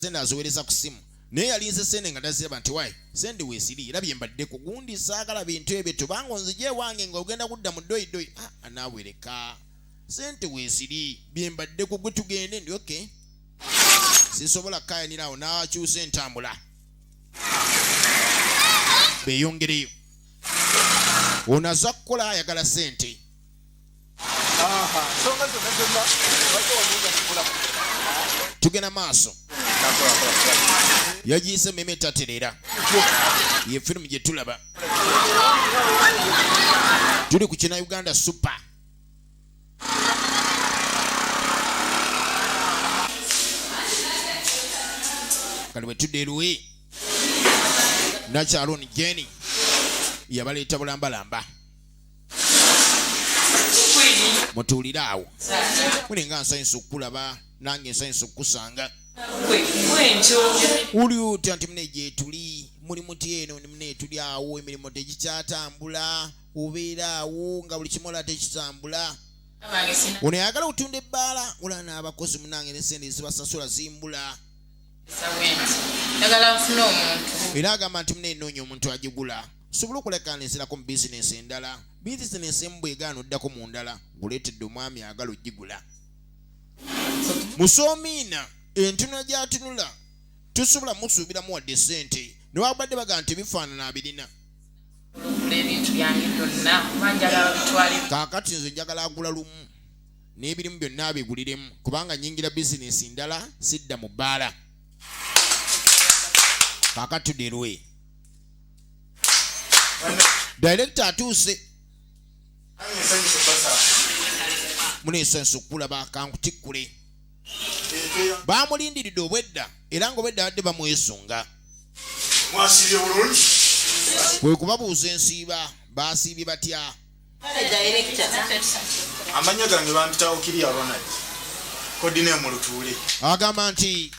sente aziwereza ku simu naye yalinze sente nga taziraba nti wayi sente wesiri era byembadde ku gundi saagala bintu ebyo tubanga onzija ewange nga ogenda kudda mu doidoi ah, anaawereka sente weziri byembadde ku gwe tugende ndi oke sisobola kukayanira awo n'akyusa entambula beyongereyo ono aza kukola ayagala sente tugenda maaso yagiyise meme etaterera ye firimu gye tulaba tuli ku kina uganda super kali bwetudde eruwi nakyaloni jeni yabaleeta bulambalamba mutuulire awo mulinga nsanyusa okukulaba nange nsanyusa okukusanga wuli otya nti mune gyetuli muli muti eno ni mune etuli awo emirimu tegikyatambula obeera awo nga buli kimu ola tekitambula ono yagala okutunda ebbaala ola n'abakozi munange nesente ezibasasula zimbula era agamba nti mune enoonya omuntu agigula tusobole okulagaana enzirako mu bizinensi endala bizinensi emu bwegaana oddako mu ndala guleetedde omwami agala ogigula musoomiina entunula gyatunula tusobola musuubiramu wadde ssente newabadde baga nti ebifaanana abirina kaakati nze njagala agula lumu n'ebirimu byonna abiguliremu kubanga nyingira bizinensi ndala sidda mu bbaala kaakati tuderwe director atuuse muneesa ensukula bakankutikkule bamulindiridde obwedda era nga obwedda badde bamwesunga kwe kubabuuza ensiiba basiibye batya amannya gange bampitawo kiri ronald kodine mulutuule agamba nti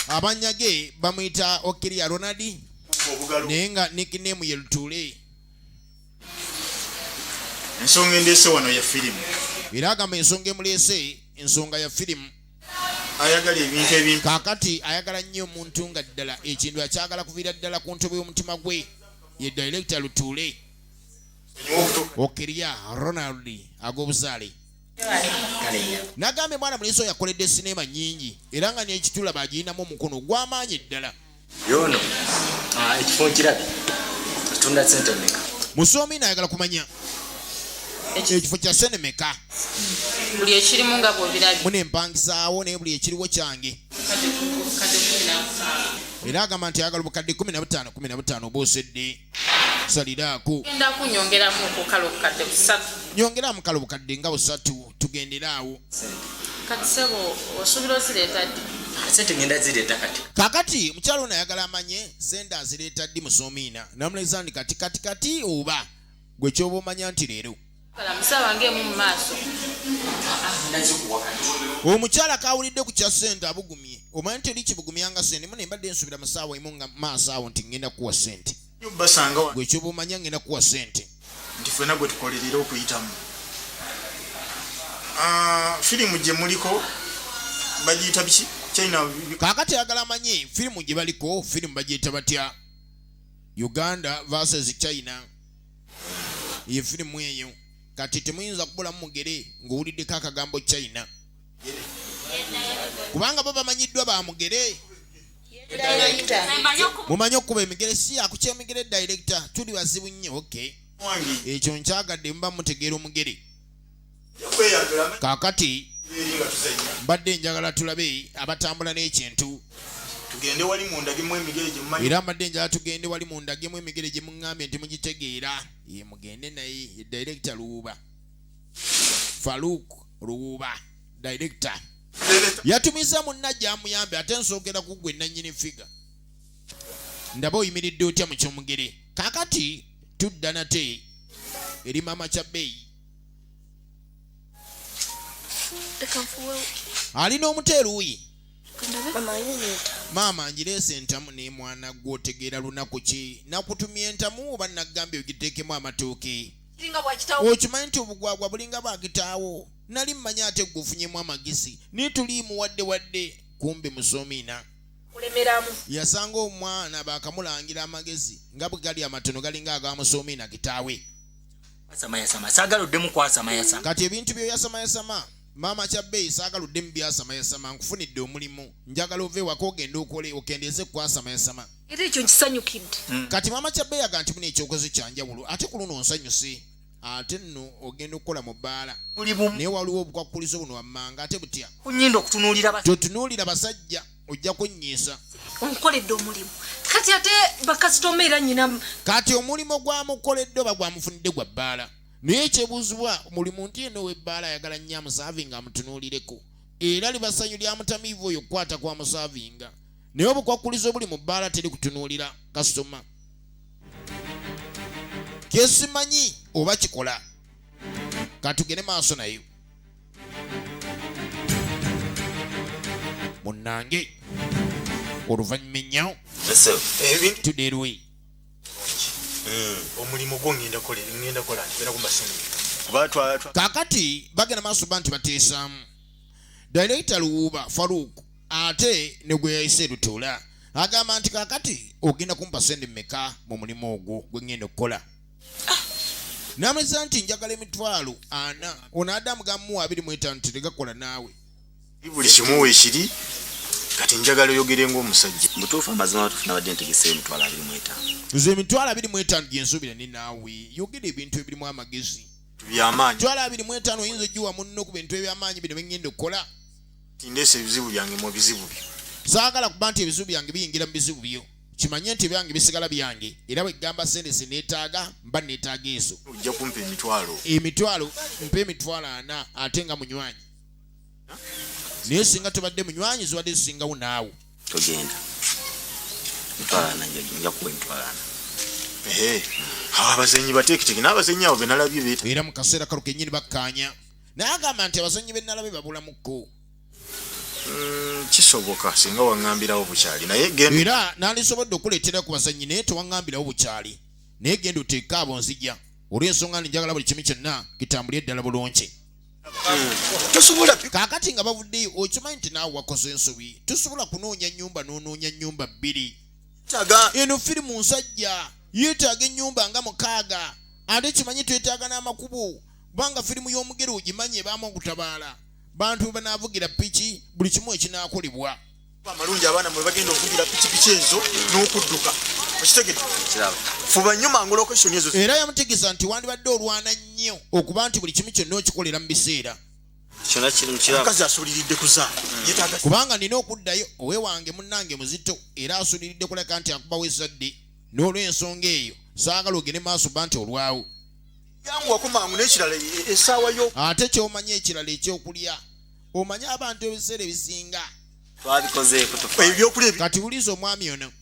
amannya ge bamuyita okiriya ronald naye nga nikinemu ye lutuule ensonga endeese wano ya firimu era agamba ensonga emuleese ensonga ya firimu ayagala ebintu ebimpi kakati ayagala nnyo omuntu nga ddala ekintu akyagala kuviira ddala ku ntobo y'omutima gwe ye director lutuule okirya ronald ag'obuzaale nagambye mwana mulenzi oyo akoledde sineema nyingi era nga nekitula bagirinamu omukono gwamaanyi eddala yono ah, ekifo nkirabi atunda sente meka musoomi nayagala kumanya ekifo kya sente meka buli ekirimu nga bwobirabi mune empangisaawo naye buli ekiriwo kyange era agamba nti ayagala obukadde 15 15 obuusedde saliraako genda kunyongeramu okukala obukadde busatu nyongera mukala obukadde nga busatu tugendere awo kati sebo osuubira ozireeta ddi sente ngenda zireeta kati kakati mukyalo ono ayagala amanye sente azireeta ddi musoomiina namulezandi kati kati kati oba gwe kyoba omanya nti leero omukyala kawulidde ku kya sente abugumye omanya nti oli kibugumya nga sente mu nembadde nsubira mu saawa emu nga maaso awo nti ngenda kuwa sente gwekyoba omanya ngenda kuwa sente nti fena gwe tukolerera okuyitamu ah, firimu gye muliko bagiyita biki kakati ayagala amanyi firimu gye baliko firimu bagiyita batya uganda versus china eyo firimu eyo kati temuyinza kubulamu mugere ng'owuliddeko akagambo china kubanga bo bamanyiddwa ba mugere mumanyi okuba emigere si yakukyemigere director tuli bazibu nnyo oky ekyo nkyagadde muba mutegeera omugere kaakati mbadde njagala tulabe abatambula n'ekintu tugende wali mundagemu emigere gyemumanyi era mbadde njala tugende wali mundagemu emigere gye muŋŋambye nti mugitegeera ye mugende naye ye director luwuba faluuk luwuba director yatumiza munna gyamuyambe ate nsookera ku gwe nannyini figa ndaba oyimiridde otya mu kyomugere kakati tudda nate eri maama kya bbeeyi alina omuto eruuyi maama njireese entamu naye mwana gwe otegeera lunaku ki nakutumya entamu oba nagambye ogiteekemu amatooke okimanyi nti obugwagwa bulinga bwakitaawo nali mmanyi ate gweofunyemu amagezi naye tuliimu wadde wadde kumbi musoomiina yasanga omwana baakamulangira amagezi nga bwe gali amatono galinga agamusoomiina kitaawe yasamayasama saagala oddemu kwasamayasama kati ebintu byoyasamayasama maama kyabbeeyi saagala oddemu byasamayasama nkufunidde omulimu njagala ova ewaka ogende okole okendeeze kukwasamayasama era ekyo nkisanyukidde hmm. kati maama kyabbeeyi aga nti muna ekyokozo kyanjawulo ate ku luno onsanyuse ate nno ogenda okukola mu bbaala naye waliwo obukwakkulizo buno wammanga ate butya totunuulira basajja ojja kunnyiisa onkoledde omulimu kati ate bakasitoma era nyina kati omulimu gwamukoledde oba gwamufunidde gwa bbaala naye ekyebuuzibwa muli muntu yena ow'ebbaala ayagala nnyo amusaavinga amutunuulireko era libasanyu lya mutamiivu oyo okukwata kwa musaavinga naye obukwakkulizo obuli mu bbaala teri kutunuulira kasitoma kyesimanyi oba kikola katugende maaso nayo munnange oluvannyuma ennyo tuderwe hmm. omulimu gwo ngenda kola ngenda kola ngenda ku masini kakati bagenda maaso ba nti bateesaamu director luwuuba farouk ate ne gwe yayise lutuula agamba nti kakati ogenda kumpa sente meka mu mulimu ogwo gwe ngenda okukola nameza nti njagala emitwalo ana ono adamu gamu abiri mwetano teregakola naawe buli kimu wekiri kati njagala oyogere ngaomusajja mutuufu amazima batufu nabadde ntegese emitwalo abiri mwetano nze emitwalo abiri mwetano gyensuubira ne naawe yogera ebintu ebirimu amagezi byamaanyi mitwalo abiri mwetano oyinza ogiwa munno ku bintu ebyamaanyi bino bengenda okukola tindeesa ebizibu byange mu bizibu byo saagala kuba nti ebizibu byange biyingira mu bizibu byo kimanye nti ebyange bisigala byange era bwegamba sente zinetaaga mba netaaga ezo ojja kumpa emitwalo emitwalo mpa emitwalo ana ate nga munywanyi naye singa tubadde munywanyi zibadde zisingawo naawe togenda mitwalana nja kuwa emitwalana abazenyi batekiteke n'abazenyi abo benalabye era mu kaseera kalo kenyini bakkaanya naye agamba nti abazanyi benalabe babulamuko Mm, kisoboka singa waŋambirawo bukyali naye era nandisobodde okuleetera ku bazannyi naye tewaŋambirawo bukyali naye genda oteeke abo nzija olw'ensonga ndi njagala buli kimu kyonna kitambuli eddala bulungi kakati nga bavuddeyo okimanyi nti naawe wakoze ensobi tosobola kunoonya nnyumba n'onoonya nnyumba bbiri eno firimu nsajja yeetaaga ennyumba nga mukaaga ate kimanyi twetaaga n'amakubo kubanga firimu y'omugere ogimanyi ebaamu okutabaala bantu bwe banaavugira piki buli kimu ekinaakolebwa amalungi abaana mwe bagenda okuvugira pikipiki ezo n'okudduka okitegedde fuba nnyo mangu lokeshoni ezo era yamutegeeza nti wandibadde olwana nnyo okuba nti buli kimu kyonna okikolera mu biseera omukazi asuliridde kuzaala hmm. kubanga nina okuddayo owe wange munnange muzito era asuliridde kuleka nti akubawo ezadde n'olw'ensonga eyo saagala ogende maaso ba nti olwawo ate kyomanyi ekirala ekyokulya omanyi abantu ebiseera ebisinga kati wuliza omwami ono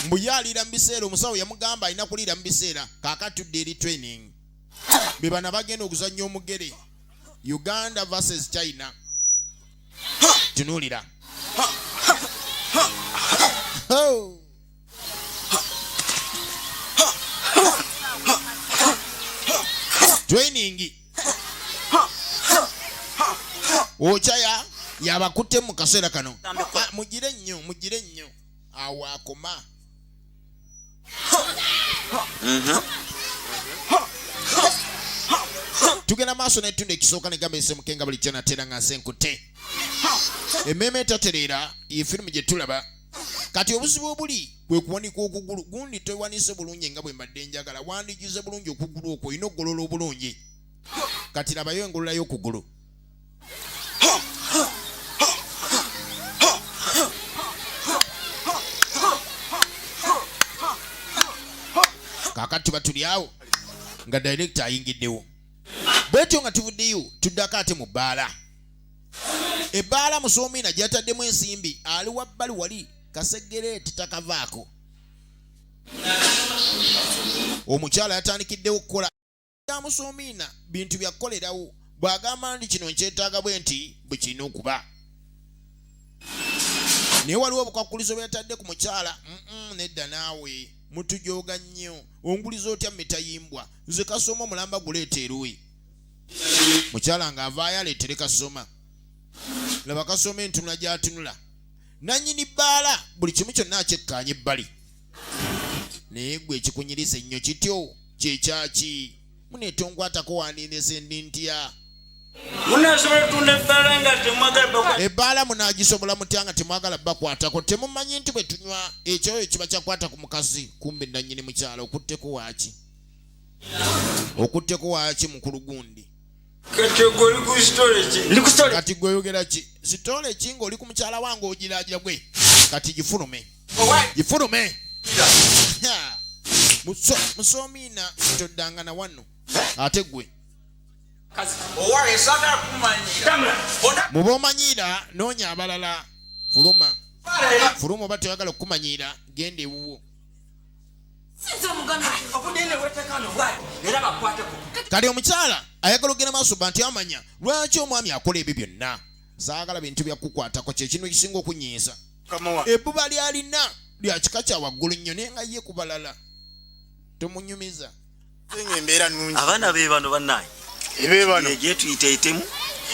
mbuyalira mubiseera omusawo yamugamba alina kuliira mubiseera kakatudde eri training bebana bagenda okuzanya omugere uganda versus china tunulira training okyaya yabakutte mu kaseera kano ah, mugire nnyo mugire nnyo awo akoma tugenda maaso netunda ekisooka negamba esemukenga buli kyonatera nga nse nkutte emmeeme etatereera ye firimu gye tulaba kati obuzibu obuli kwe kuwanika okugulu gundi tewanise bulungi nga bwe mbadde njagala wandigize bulungi okugulu okwo olina okugolola obulungi kati labayo engolola y'okugulu kakati tuba tuli awo nga direkita ayingiddewo bwetyo nga tuvuddeyo tuddako ate mu bbaala ebbaala musoomiina gyataddemu ensimbi ali wabbali wali kasegere titakavaako omukyala yatandikiddewo okukola ya musoomiina bintu byakukolerawo bw'agamba nti kino nkyetaaga bwe nti bwe kirina okuba naye waliwo obukwakkulizo bwe yatadde ku mukyala nedda naawe mutujooga nnyo onguliza otya mitayimbwa nze kasoma omulamba guleeta eruwe mukyala nga avaayo aleetere kasoma laba kasoma entunula gyatunula nanyini bbaala buli kimu kyonna akyekkaanya ebbali naye gwe ekikunyiriza ennyo kityo kyekyaki munetonkwatako wandindese ndi ntya ebbaala munagisobola mutya nga temwagala bakwatako temumanyi nti bwe tunywa ekyoyo kiba kyakwata ku mukazi kumbe nanyini mukyalo okutteko waaki okutteko waaki mukulu gundi kati gwe oyogera ki sitole ki ngaoli ku mukyala wange ogiragira gwe kati gifulume gifulume musoomiina toddanga na wano ate gwe muba omanyiira noonya abalala fuluma fuluma oba toyagala okukumanyiira genda ewuwo kati omukyala ayagala okugenda maaso ba nti amanya lwaki omwami akola ebyo byonna zaagala bintu byakukwatako kyekintu ekisinga okunyiiza ebbuba lyalina lya kika kya waggulu nnyo naye nga ye kubalala tomunyumiza abaana be bano banaye gyetuyita etemu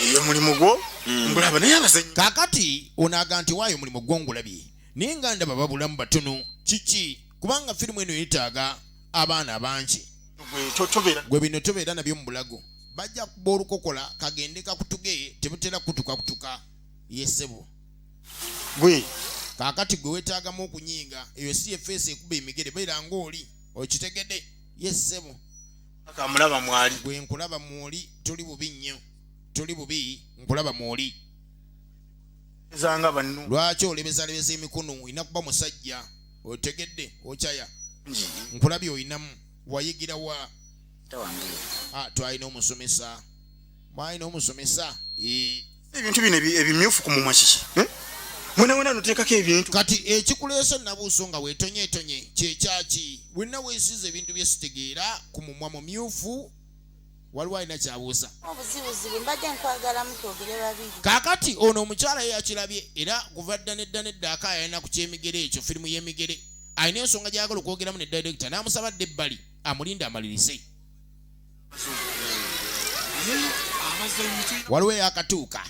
eyo mulimu gwo hmm. ngulaba naye abazanyi kakati onaga nti waayo omulimu gwo ngulabye naye nga ndaba babulamu batono kiki kubanga firimu eno yetaaga abaana bangi gwe bino tobeera nabyo mu bulago bajja kuba olukokola kagende kakutuge tebutera kutuka kutuka yesebo gwe kaakati gwe wetaagamu okunyiinga eyo si yefeesi ekuba emigere beera ngaoli okitegede yesebo akamulaba mwali gwe nkulaba mwoli toli bubi nnyo toli bubi nkulaba mwoli ezanga banno lwaki olebezalebeza emikono olina kuba musajja otegedde okyaya nkulabi olinamu wayigira wa ah, twalina omusomesa mwalina omusomesa ebintu bino ebimyufu ku mumwa kiki eh? mwenawena notekako ebintu kati ekikuleese nabuuso nga wetonyetonye kyekyaki wenna wesiza ebintu byesitegeera ku mumwa mumyufu waliwo alina kyabuuza kakati ono omukyala ye yakirabye era kuva dda nedda nedda akaaya alina ku kyemigere ekyo firimu y'emigere alina ensonga gyayagala okwogeramu ne direkita n'amusaba dda ebbali amulinde amalirize waliwo eyakatuuka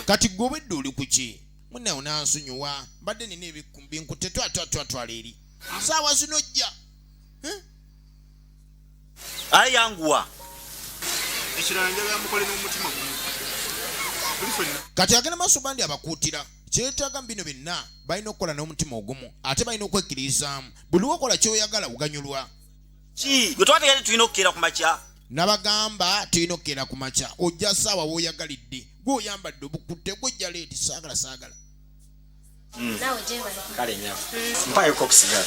kati gwe obedde oli kuki munawo nansonyiwa mbadde nina ebinkutte twatwatwatwala eri saawa zino jja eh? aye yanguwa ekirala njagala mukole n'omutima gumu kati agenda maaso bandi abakuutira kyetaaga bino byonna balina okukola n'omutima ogumu ate balina okwekkiririzaamu buli wokola kyoyagala uganyulwa ki gwe twategere tulina okukeera ku makya nabagamba tulina okukeera ku makya ojja saawa woyagalidde gwe oyambadde obukutte gwe ojja leeti saagala saagala Mm. Nawe jema. Kale nyama. Mm. Mpayo kop sigara.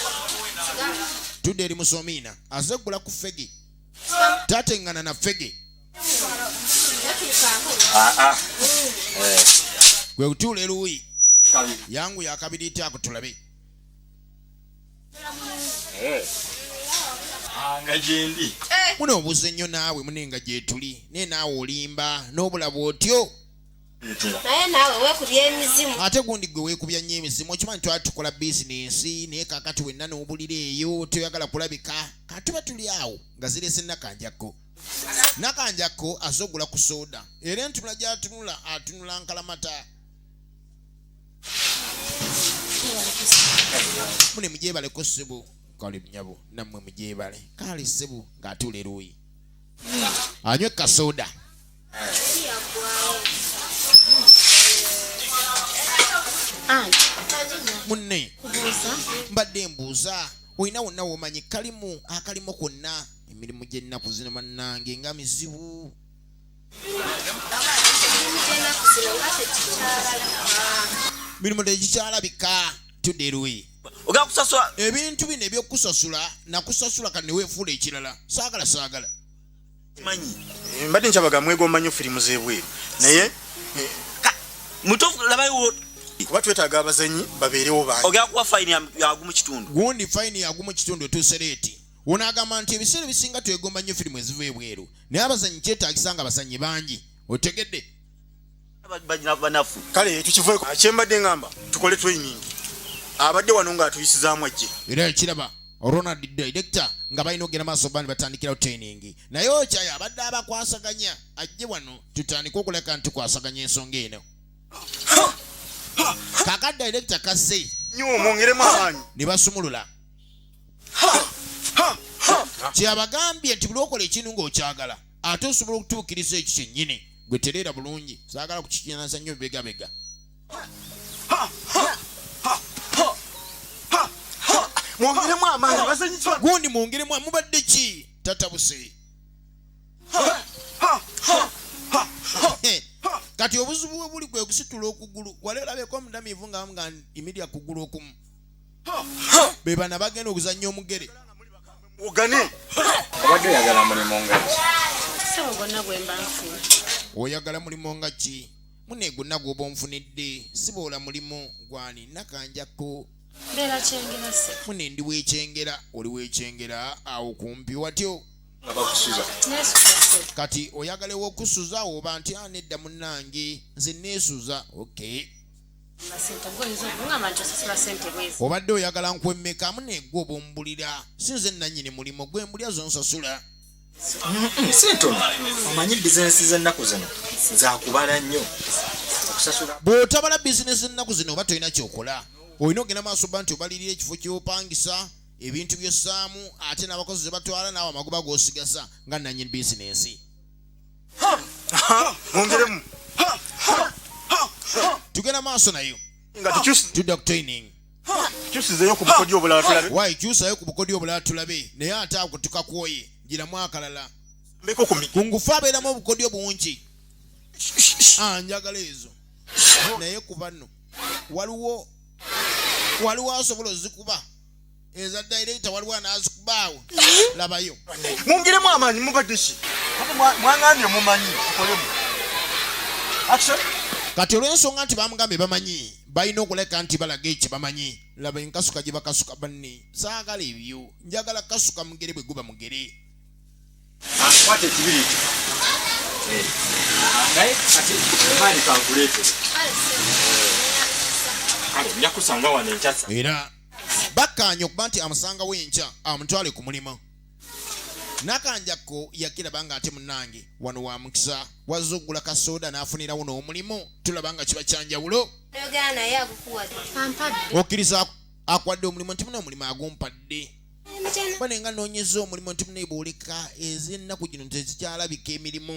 Tude eri musomina. Aze kula ku fegi. Tate ngana na fegi. Ah ah. Mm. Eh. Gwe utule lui. Kali. Yangu ya kabidi iti akutulabi. Eh. Anga jendi. Eh. Muna ubuze nyo nawe muna inga jetuli. Nena ulimba. Nobula botyo. naye naawe weekubya emizimu ate gundi gwe weekubya nnyo emizimu okimanyi twali tukola bizinensi naye kakati wenna n'obulira eyo toyagala kulabika katuba tuli awo nga zireese nakanjakko nakanjakko aze ogula ku sooda era entunula gyatunula atunula nkalamata mune mugyebaleko ssebo kale nyabo nammwe mugyebale kaali ssebo ng'atuula eruuyi anywe kasooda munne mbadde mbuuza olina wonna womanyi kalimu akalimu konna emirimu gy'ennaku zino bannange nga mizibu mirimu tegikyalabika tuderuyi ogenda kusasula ebintu bino ebyokusasula nakusasula kati neweefuula ekirala saagala saagala manyi eh, mbadde nkyabaga mwegomba nnyo firimu z'ebweru naye eh, mutuufu labayo kuba twetaaga abazanyi babeerewo bangi ogera kuwa fayini yagumu kitundu gundi fayini yagumu kitundu etuuse leeti ono agamba nti ebiseera ebisinga twegomba nnyo firimu eziva ebweru naye abazanyi kyetaagisa nga abazanyi bangi otegedde banafu kale tukivueko akyembadde ngamba tukole training abadde wano nga atuyisizaamu ajje era ekiraba ronald director nga balina okugenda maaso bandi batandikirawo training naye okyayo abadde abakwasaganya ajje wano tutandike okuleka nti kwasaganya ensonga eno kaka director kasse nyo mwongeremu amaanyi ne basumulula kyabagambye nti buli okola ekintu ng'okyagala ate osobola okutuukiriza ekyo kyennyini gwe tereera bulungi saagala kukikinaza nnyo bibegabega mwongeremu amaanyi bazanyitwa gundi mwongeremu mubadde ki tatabuse kati obuzibu bwe buli kwe kusitula okugulu wali olabeko omudamiivu nga bamuga imirya kugulu okumu bebana bagenda okuzannya omugere ogane obadde oyagala mulimu nga sebo gonna gwemba nfuna oyagala mulimu nga ki mune gonna gwoba onfunidde siboola mulimu gwani nakanjakko mune ndi wekyengera oli wekyengera awo kumpi watyo kati oyagala ewokusuza oba nti anedda ah, munange nze nesuza okay obadde oyagala nkwemmekamu negwe obumbulira si nze nanyini mulimu gwe mbulya zonsasula sintono omanyi bizinesi zennaku zino zakubala nnyo okusasula bw'otabala bizinesi ennaku zino oba tolina kyokola olina ogenda maaso ba nti obalirira ekifo kyopangisa ebintu by'ossaamu ate n'abakozi ze batwala naawe amagoba g'osigaza nga nanyini bizinesi mwongeremu tugenda maaso nayo nga tukyusi tudda ku training tukyusizeyo ku bukodyo obulala tulabe wayi kyusayo ku bukodyo obulala tulabe naye ate ago tukakwoye giramu akalala mbeko ku mi ku ngufu abeeramu obukodyo bungi Ah, njagala ezo naye ku bano waliwo waliwo asobola ozikuba eza dairekita waliwo anazikubaawo mm-hmm. labayo mungiremu amaanyi mubadeki mwangambye mumanyi kikolemu kati olwensonga nti bamugambye bamanyi balina okuleka nti balaga ekyo bamanyi laba enkasuka gye bakasuka banne saagala ebyo njagala kasuka mugere bwe guba mugere era bakkaanya okuba nti amusangawo enkya amutwale ku mulimu nakanjakko yakiraba nga ate munange wano wa mukisa wazza okugula kasooda n'afunirawo n'omulimu tulaba nga kiba kyanjawulo okkiriza akwadde omulimu nti muna omulimu agumpadde bane nga noonyeza omulimu nti muna ebwoleka ez'ennaku gino tezikyalabika emirimu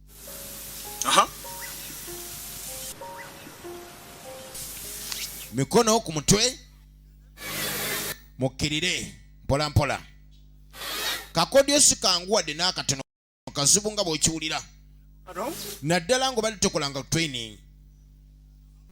Aha. mikono ku mutwe mukkirire mpola mpola kakodyo sikanguwadde n'akatono kazibu nga bw'okiwulira naddala ng'obadde tokolanga training